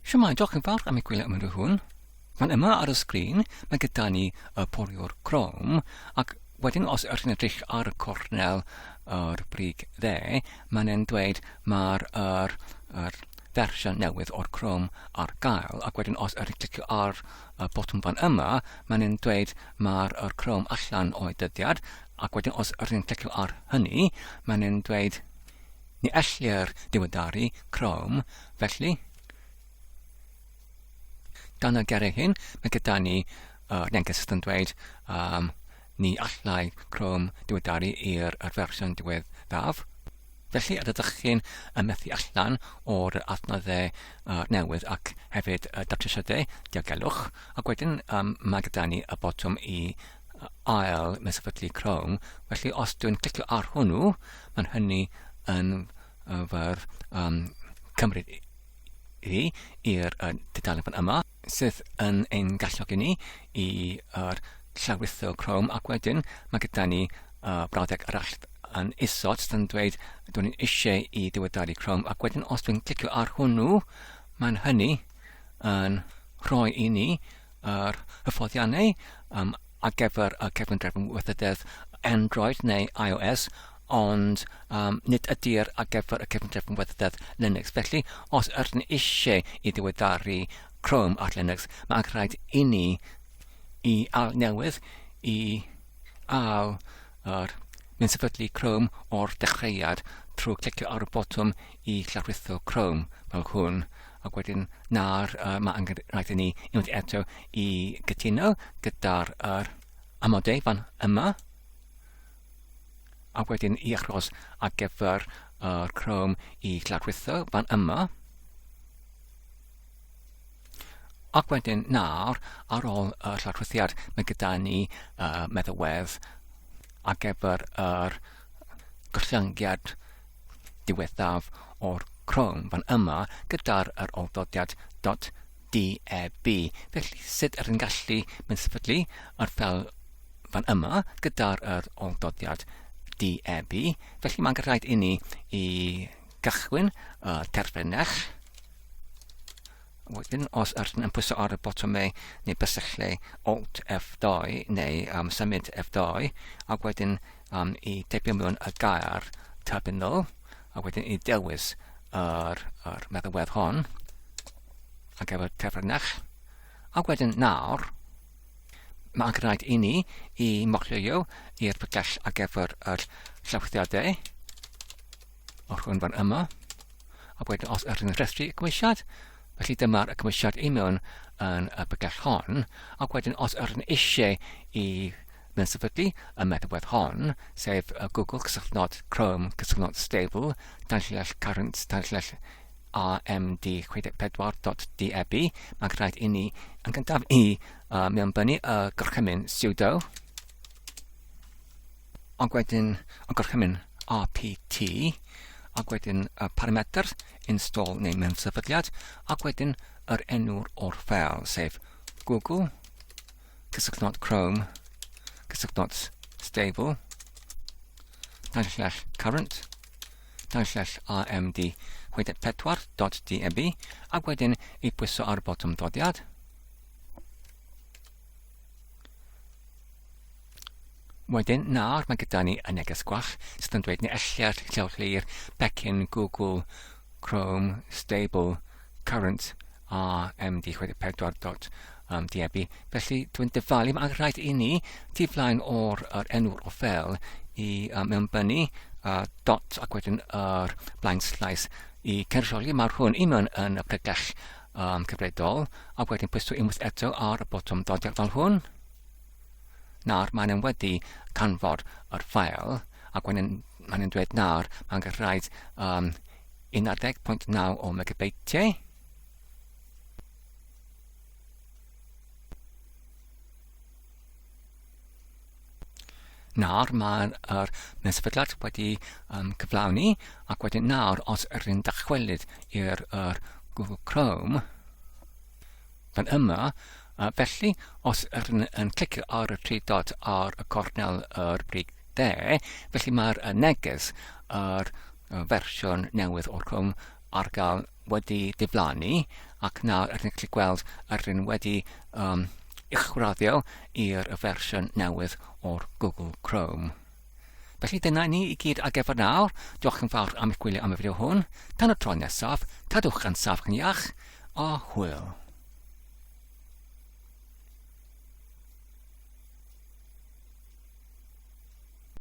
Shwmae, diolch yn fawr am y gwylio ymrwydd hwn. Fan yma ar y sgrin, mae gyda ni y poliwr crom, ac wedyn os ydych chi'n edrych ar y cornel yr brig dde, mae'n e'n dweud mae'r er, er fersiwn newydd o'r crom ar gael, ac wedyn os ydych chi'n clicio ar y botwm fan yma, mae'n e'n dweud mae'r er crom allan o'i dyddiad, ac wedyn os ydych chi'n clicio ar hynny, mae'n e'n dweud ni ellir diweddaru crom Felly, dan y geiriau hyn, mae gyda ni uh, neges yn dweud um, ni allai Chrome diweddaru i'r fersiwn diweddaf. Felly, yr ydych chi'n methu allan o'r adnoddau uh, newydd ac hefyd y datrysiadau diogelwch. Ac wedyn, um, mae gyda ni y botwm i ail mesafydlu Chrome. Felly, os dwi'n clicio ar hwnnw, mae'n hynny yn arfer um, cymryd hi i'r uh, dudalen fan yma, sydd yn ein galluogi ni i uh, llawritho Chrome ac wedyn mae gyda ni uh, brawddeg arall yn isod sydd yn dweud dwi'n ni'n eisiau i diweddaru Chrome ac wedyn os dwi'n clicio ar hwnnw mae'n hynny yn rhoi i ni yr hyfforddiannau um, ar gyfer y cefndrefn weithrededd Android neu iOS, ond um, nid ydy'r ar gyfer y cefndrefn weithrededd Linux. Felly, os ydyn ni eisiau i ddiweddaru Chrome ar Linux, mae angen rhaid i ni i al newydd, i al yr mynd sefydlu Chrome o'r dechreuad trwy clicio ar y botwm i llawrithio Chrome fel hwn. ac wedyn nawr uh, mae angen rhaid i ni unwaith eto i gytuno gyda'r er, amodau fan yma a wedyn i achos ar gyfer yr uh, Chrome i gladwitho fan yma ac wedyn nawr ar ôl y uh, lladwithiad mae gyda ni uh, meddalwedd ar gyfer yr er, gostyngiad diwethaf o'r Chrome fan yma gyda'r yr awdodiad .deb. Felly sut ydyn gallu mynd sefydlu yr fel fan yma gyda'r yr awdodiad .deb. Felly mae'n rhaid i ni i gychwyn y terfynell Wedyn, os ydych chi'n pwyso ar y botymau neu bysylltu Alt F2 neu um, symud F2, ac wedyn um, i deipio mewn y gair terminal, a wedyn i dewis yr, yr meddywedd hon, ac efo'r tefrynach, a wedyn nawr, mae'n gwneud i ni i mochlio i'r pygell ac efo'r llawthiadau, Os hwn fan yma, a wedyn os ydyn ni'n rhestru y cymwysiad, felly dyma'r cymwysiad i mewn yn y bygell hon, ac wedyn os ydyn ni eisiau i mewn sefydlu y meddalwedd hon, sef y Google cysylltnod Chrome cysylltnod stable, tanllall current, tanllall amd64.deb, mae'n rhaid i ni yn gyntaf i uh, mewnbynnu y gorchymyn sudo, ond wedyn y gorchymyn RPT ac wedyn y parametr install neu mewn sefydliad ac wedyn yr enw'r o'r ffel sef Google cysylltnod Chrome cysylltnod stable danllell current danllell AMD 64.deb ac wedyn i pwyso ar y botwm dodiad Wedyn, nawr mae gyda ni y neges gwach sydd yn dweud ni elliad lleolir pecyn Google Chrome Stable Current RMD64.diebu. Felly, dwi'n dyfalu, mae'n rhaid i ni tu flaen o'r er enw o fel i um, mewnbynnu uh, dot ac wedyn yr er blaen slais i cynrychioli. Mae'r hwn i mewn yn y pregell yn cyfredol, a wedyn pwyso unwaith eto ar y botwm dodiad fel hwn. Nawr, mae'n yn wedi canfod yr ffael, ac mae'n yn dweud nawr, mae'n gallu rhaid um, 11.9 o megabeitiau. Nawr mae'r er mewn wedi um, cyflawni ac wedyn nawr os rydyn dychwelyd i'r er Google Chrome fan yma uh, felly os rydyn yn clicio ar y tri dot ar y cornel yr brig de felly mae'r uh, neges yr uh, fersiwn newydd o'r Chrome ar gael wedi diflannu ac nawr rydyn ni'n gallu gweld yr un wedi um, uwchraddio i'r fersiwn newydd o'r Google Chrome. Felly dyna ni i gyd ar gyfer nawr. Diolch yn fawr am eich gwylio am y fideo hwn. Tan y tro nesaf, cadwch yn saf yn iach a hwyl.